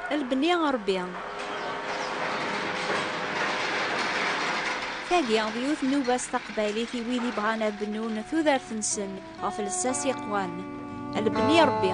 Lbni Ṛebbi. Tagi d yiwet nnuba-s taqbaylit i wid ibɣan ad bennun tudert-nsen ɣef lsas yeqwan. Lbni Ṛebbi.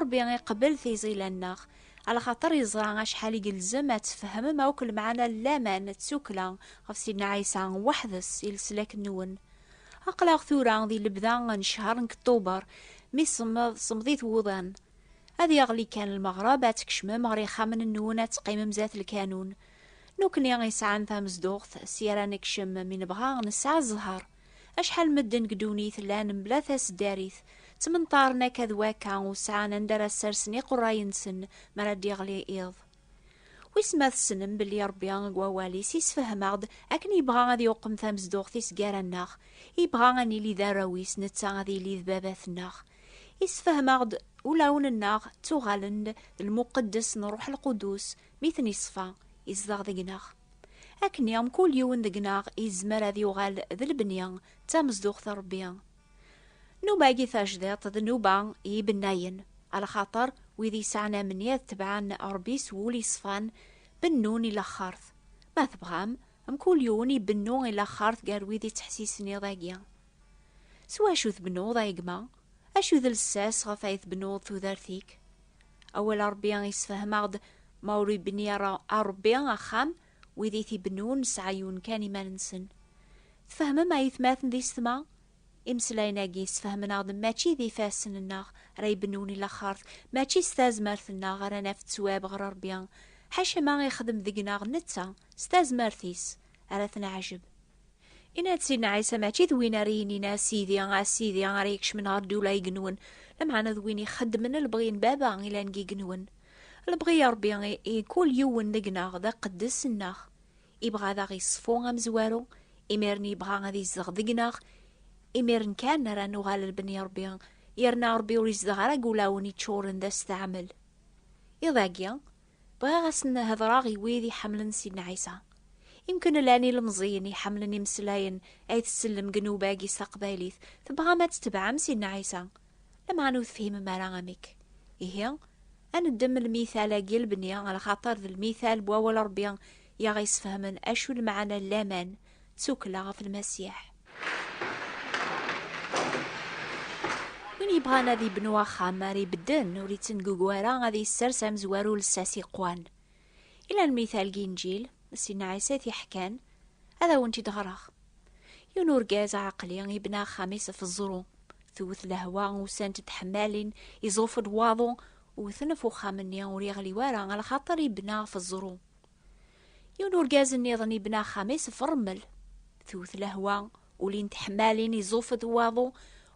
Ṛebbi iqebbel tiẓila-nneɣ, ɛla xaṭer yeẓra acḥal i yelzem ad tfehmem akk lemɛana n laman d tukkla ɣef Sidna Ɛisa weḥd-s i leslak-nwen. Aql-aɣ tura di lebda n ccehr n Kṭuber, mi semmeḍ semmeḍit wuḍan. Ad yeɣli kan lmeɣreb, ad tkecmem ɣer yixxamen-nwen ad teqqimem zdat lkanun. Nekkni i yesɛan tamezduɣt, sya ara nekcem, mi nebɣa nesɛa zzheṛ. Acḥal medden deg ddunit llan mebla taseddarit, ttmenṭaren akka d wakka, ur sɛan anda ara ssersen iqerray-nsen mi ara d-iɣli iḍ. Wissen ma tessnem belli Ṛebbi deg Wawal-is yessefhem-aɣ-d akken yebɣa ad iqem tamezduɣt-is gar-aneɣ, yebɣa ad nili d arraw-is, netta ad yili d Babat-nneɣ. Yessefhem-aɣ-d ulawen-nneɣ ttuɣalen-d d lmuqeddes n Ṛuḥ Lqudus, Mi ten-iṣfa, izdeɣ deg-neɣ. Akken i mkul yiwen deg-neɣ yezmer ad yuɣal d lebni d tamezduɣt n Rebbi. Nnuba-agi tajdiṭ d nnuba n yibennayen, a lxaṭer wid yesɛan amenni ad tebɛen Rebbi s wul iṣfan, bennun i laxert. Ma tebɣam, mkul yiwen ibennu i laxert gar wid ittḥessisen iḍ-agi. S wacu tbennuḍ a gma? Acu d lsas ɣef ay tbennuḍ tudert-ik? Awal Ṛebbi yessefhem-aɣ-d, Ma ur ibenni ara Ṛebbi axxam, wid i t-ibennun nesɛa yiwen kan iman-nsen. Tfehmem a itmaten d isetma? Imeslayen-agi ssefhamen-aɣ-d mačči d ifassen-nneɣ ara ibennun i laxert, mačči s tazmert-nneɣ ara naf ttwab ɣer Ṛebbi, ḥaca ma ixdem deg-neɣ netta s tazmert-is ara t-neɛjeb. Inna-d Sidna Ɛisa mačči d win ara yinin a Sidi, a Sidi ara yekcmen ɣer ddula igenwen, lameɛna d win ixeddmen lebɣi n Baba ilan deg igenwen. Lebɣi n Rebbi i kul yiwen deg-neɣ d aqeddes nneɣ. Ibɣa ad aɣ-iṣfu amezwaru, imiren ibɣa ad izdeɣ deg-neɣ, imiren kan ara nuɣal lbni n Rebbi, yerna Rebbi ur izdeɣ ara deg ulawen iččuren d asteɛmel. Iḍ-agi, Bɣiɣ ad sen-hedreɣ i wid iḥemmlen Sidna Ɛisa. Imken llan ilemẓiyen iḥemmlen imeslayen ay tsellem deg nnuba-agi s taqbaylit, tebɣam ad tebɛem Sidna Ɛisa, lameɛna ur tefhimem ara amek. Ihi, ad neddem lmital-agi n lebni, ɣer lxaṭer d lmital n wawal n Rebbi i aɣ-yesfehmen acu lmeɛna n laman, tsukkla ɣef lmasiḥ. Win yebɣan ad ibnu axxam ara ibedden ur ittengugu ara ad yessers amezwaru lsas iqwan. Ila lmithal deg inǧil, Sidna Ɛisa i t-iḥkan, ad awent-id-ɣreɣ. Yiwen urgaz aɛeqli ibna axxam-is ɣef ẓẓru. Tewwet lehwa, usant-d tḥemmalin, iẓuf-d waḍu, wwten ɣef uxxam-nni ur yeɣli wara, ala xaṭer ibna ɣef ẓẓru. Yiwen urgaz nniḍen ibna axxam-is ɣef rrmel. Tewwet lehwa, ulin teḥmalin, iẓufet waḍu,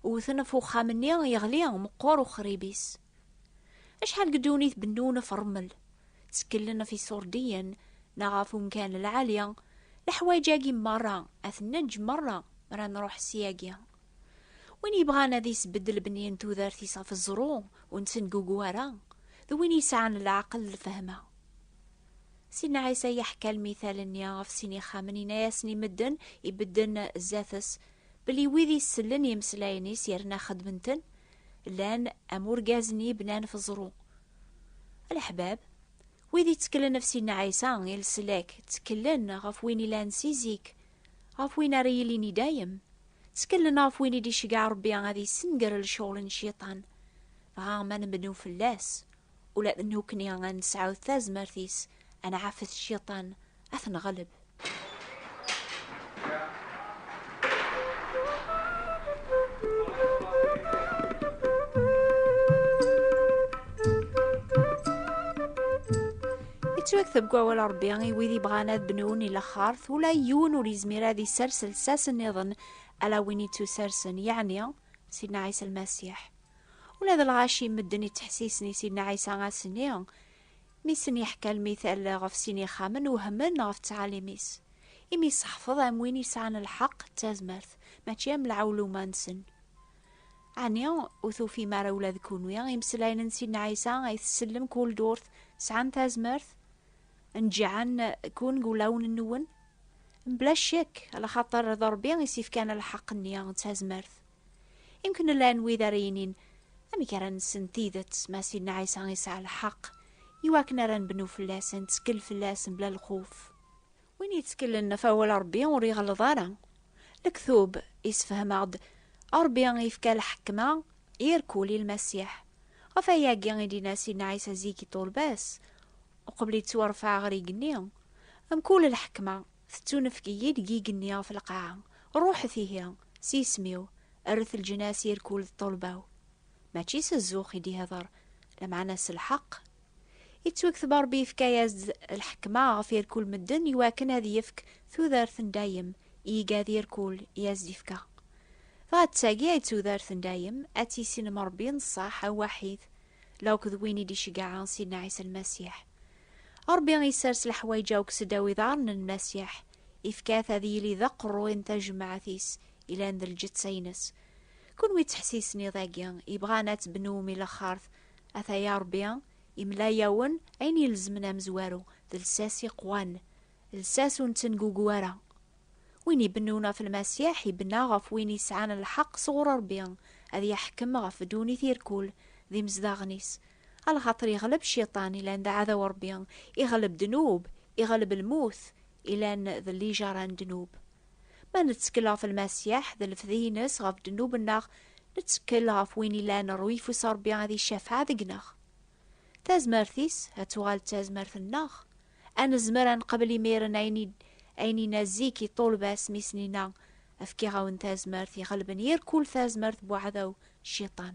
wwten ɣef uxxam-nni, yeɣli, meqqer uxrib-is. Acḥal deg ddunit bennun ɣef rrmel, tteklen ɣef iṣurdiyen neɣ ɣef umkan lɛali, leḥwayeǧ-agi merra ad ten-neǧǧ merra mi ara nruḥ syagi. Win yebɣan ad isbedd lebni n tudert-is ɣef ẓẓru ur nettengugu ara, d win yesɛan leɛqel d lfehma. Sidna Ɛisa yeḥka lmital-nni ɣef sin ixxamen, yenna-yasen i medden ibedden zdat-s, belli wid isellen i imeslayen-is yerna xedmen-ten, llan am urgaz-nni ibnan ɣef ẓru. A leḥbab, wid itteklen ɣef Sidna Ɛisa i leslak, tteklen ɣef win ilan si zik, ɣef win ara yilin i dayem, tteklen ɣef win i d-iceggeɛ Rebbi ad yessenger lecɣal n Cciṭan, dɣa ma nbeddu fell-as, ula d nukni ad nesɛu tazmert-is ad nɛafet cciṭan ad t-neɣleb. yettwakteb deg wawal Rebbi i wid yebɣan ad bnun i laxert ula yiwen ur yezmir ad isers lsas nniḍen ala win yettusarsen yeɛni Sidna Ɛisa Lmasiḥ. Ula d lɣaci medden ittḥessisen i Sidna Ɛisa ass-nni mi sen-yeḥka lmital ɣef sin ixxamen wehmen ɣef ttɛalim-is, imi iseḥfeḍ am win yesɛan lḥeqq d tazmert, mačči am lɛewluma-nsen. Ɛni ur tufim ara ula d kunwi imeslayen n Sidna Ɛisa ay tsellem kul durt sɛan tazmert? Neǧǧɛen kun deg wulawen-nwen? Mebla ccek, alaxaṭer d Ṛebbi i s-yefkan lḥeqq-nni d tazmert. Imken llan wid ara yinin amek ara nessen tidet ma Sidna Ɛisa yesɛa lḥeqq iwakken ara nbennu fell-as, nettkel fell-as mebla lxuf. Win yettkelen ɣef awal Rebbi ur iɣelleḍ ara. Lektub yessefhem-aɣ-d Rebbi yefka lḥekma i rkul i Lmasiḥ. Ɣef wayagi i d-yenna Sidna Ɛisa zik i ṭṭulba-s, uqbel yettwarfeɛ ɣer yigenni, Mkul lḥekma, Tettunefk-iyi-d deg igenni ɣef lqaɛa, ruḥet ihi, s yisem-iw, rret leǧnas i rkul d ṭṭulba-w. Mačči s zzux i d-ihder, lameɛna s lḥeqq. Ittwekteb Rebbi yefka-yas-d lḥekma ɣef irkul medden iwakken ad yefk tudert n dayem i igad irkul i as-d-ifka. Dɣa d tagi ay d tudert n dayem, ad tissinem Rebbi n ṣṣeḥ, awaḥid, lawk d win i d-iceggɛen Sidna Ɛisa Lmasiḥ. Ṛebbi isers leḥwayeǧ-a akk sedaw iḍaṛṛen n Masiḥ, ifka-t ad yili d aqeṛṛuy n tajemmaɛt-is ilan d lǧetta-ines. Kunwi ţḥessisen iḍ-agi, ibɣan a ţ-bnum i laxert, ata-ya Ṛebbi imla-yawen ayen ilezmen amezwaru d lsas iqwan, lsas ur neţengugu ara. Win ibennun ɣef Lmasiḥ ibenna ɣef win isɛan lḥeqq sɣuṛ Ṛebbi ad iḥkem ɣef ddunit irkul d imezdaɣen-is A lxaṭer iɣleb cciṭan, ilan d aɛdaw n Ṛebbi, iɣleb ddnub, iɣleb lmut, ilan d lijaṛa n ddnub. Ma nettekkel ɣef Lmasiḥ d lefdi-ines ɣef ddnub-nneɣ, nettekkel ɣef win ilan ṛuyfus Ṛebbi ad icafeɛ deg-neɣ. Tazmert-is ad tuɣal d tazmert-nneɣ. A nezmer ad neqbel imiren ayen i ayen i na zik i ṭṭulba-s mi s-nina, Fkiɣ-awen tazmert iɣelben yir kul tazmert n uɛdaw, cciṭan.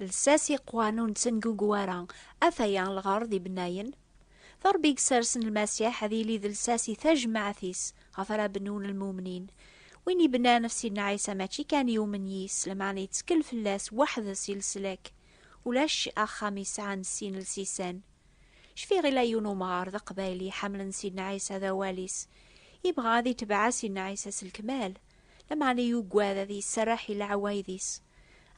Lsas iqwan ur nettengugu ara, af aya lɣerḍ ibennayen. D Ṛebbi i yessersen Lmasiḥ ad yili d lsas i tajmaɛt-is ɣef ara bnun lmumnin. Win ibennan ɣef Sidna Ɛisa mačči kan yumen yis-s, lameɛna yettkel fell-as weḥd-s i leslak. Ulac axxam yesɛan sin lsisan. Cfiɣ yella yiwen umɣar d aqbayli iḥemmlen Sidna Ɛisa d awal-is. Yebɣa ad itbeɛ Sidna Ɛisa s lekmal. Lameɛna yugad ad yesserreḥ i leɛwayed-is.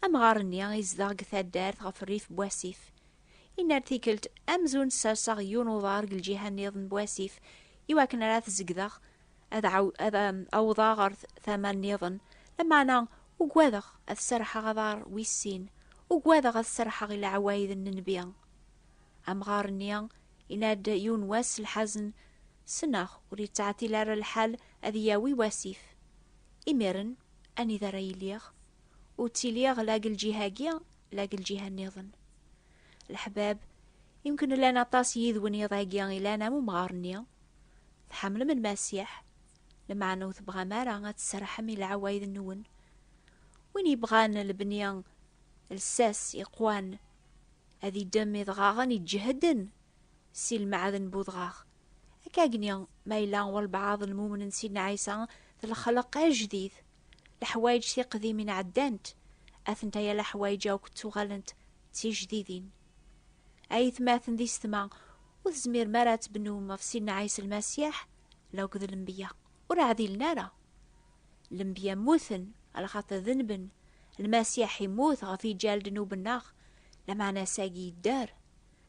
Amɣar-nni izdeɣ deg taddart ɣef rrif n wasif. Yenna-d tikkelt, Amzun sserseɣ yiwen uḍar deg lǧiha nniḍen n wasif, i wakken ara t-zegdeɣ ad awḍeɣ ɣer tama nniḍen, lameɛna ugadeɣ ad serrḥeɣ aḍar wis sin, ugadeɣ ad serrḥeɣ i leɛwayed n nnbi. Amɣar-nni yenna-d yiwen wass lḥazen Ssneɣ ur yettɛeṭṭil ara lḥal ad iyi-yawi wasif. Imiren, anida ara iliɣ? Ur ttiliɣ la deg lǧiha-agi, la deg lǧiha nniḍen. Leḥbab, yemken llan aṭas yid-wen yiḍ-agi ilan am umɣar-nni. Tḥemmlem Lmasiḥ, lmeɛna ur tebɣam ara ad tserrḥem i leɛwayed-nwen. Win yebɣan lebni lsas iqwan, ad idem idɣaɣen iǧehden Si lmeɛd n budɣaɣ. Akkagni, ma yella walbeɛḍ n lmumnen Sidna Ɛisa d lexleq ajdid, leḥwayeǧ tiqdimin ɛeddant, atent aya leḥwayeǧ akk ttuɣalent d tijdidin. Ay itmaten d isetma, ur tezmirem ara ad tbennum ɣef Sidna Ɛisa Lmasiḥ law d lembya, ur ɛdilen ara. Lembya mmuten, alaxater denben, Lmasiḥ immut ɣef iǧal dnub nneɣ, lameɛna ass-agi yedder.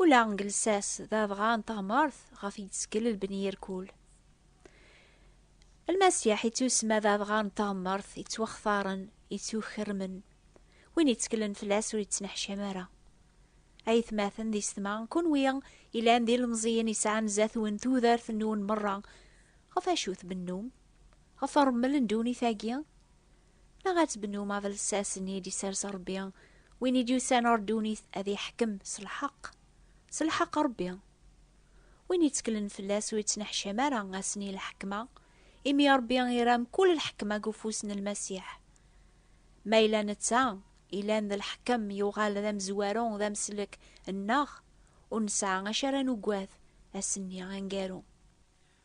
Ula deg lsas d adɣa n teɣmert ɣef i yettkel lbni irkul. Lmasiḥ ittusemma d adɣa n teɣmert ittwaxtaren, ittukermen, win itteklen fell-as ur yettneḥcam ara. Ay atmaten d isetma, kunwi ilan d ilemẓiyen isɛan zat-wen tudert-nwen merra, ɣef acu tbennum? Ɣef remmel n ddunit-agi? Neɣ ad tebnum abelsas-nni i d-isers Rebbi, win i d-yusan ɣer ddunit ad iḥkem s lḥeqq, s lḥeqq Rebbi. Win itteklen fell-as ur ittneḥcam ara ass-nni i lḥekma, imi Rebbi ira mkul lḥekma deg ufus n Lmasiḥ. Ma yella netta, ilan d lḥekem, yuɣal d amezwaru, d ameslek, nneɣ, ur nesɛa acu ara nugad ass-nni aneggaru.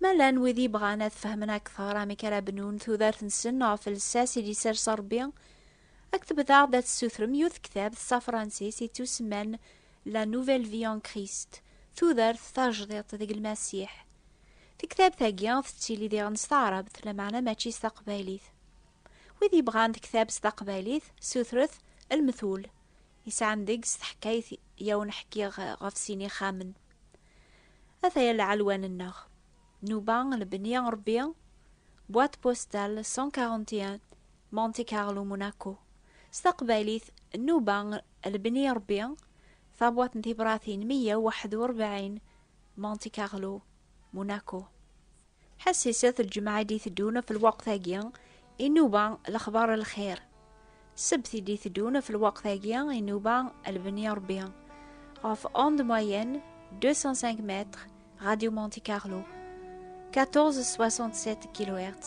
Ma llan wid yebɣan ad fehmen akteṛ amek ara bnun tudert-nsen ɣef lsas i d-isers Ṛebbi, ad k-tebdaɣ-d ad tessutrem yiwet tektabt s afṛansis yettusemman La Nouvelle Vie en Christ, Tudert tajdiṭ deg Lmasiḥ. Tektabt-agi tettili diɣen s taɛrabt, lameɛna mačči s taqbaylit. Wid yebɣan tektabt s taqbaylit, sutret Lmetul, yesɛan deg-s taḥkayt i awen-ḥkiɣ ɣef sin ixxamen. Ataya lɛelwan-nneɣ. Nuba lebni Rebbi, boîte postale 141 Monte Carlo Monaco. S taqbaylit, Nuba lebni Rebbi, tabwaṭ n tibratin 141 Monte Carlo Monaco. Ḥassisat lǧemɛa i d-iteddun ɣef lweqt-agi, inuba lexbar lxir. Sebt i d-iteddun ɣef lweqt-agi, inuba lbeni Ṛebbi. Ɣef onde moyenne 205 mètres, Radio Monte Carlo, 1467 kHz.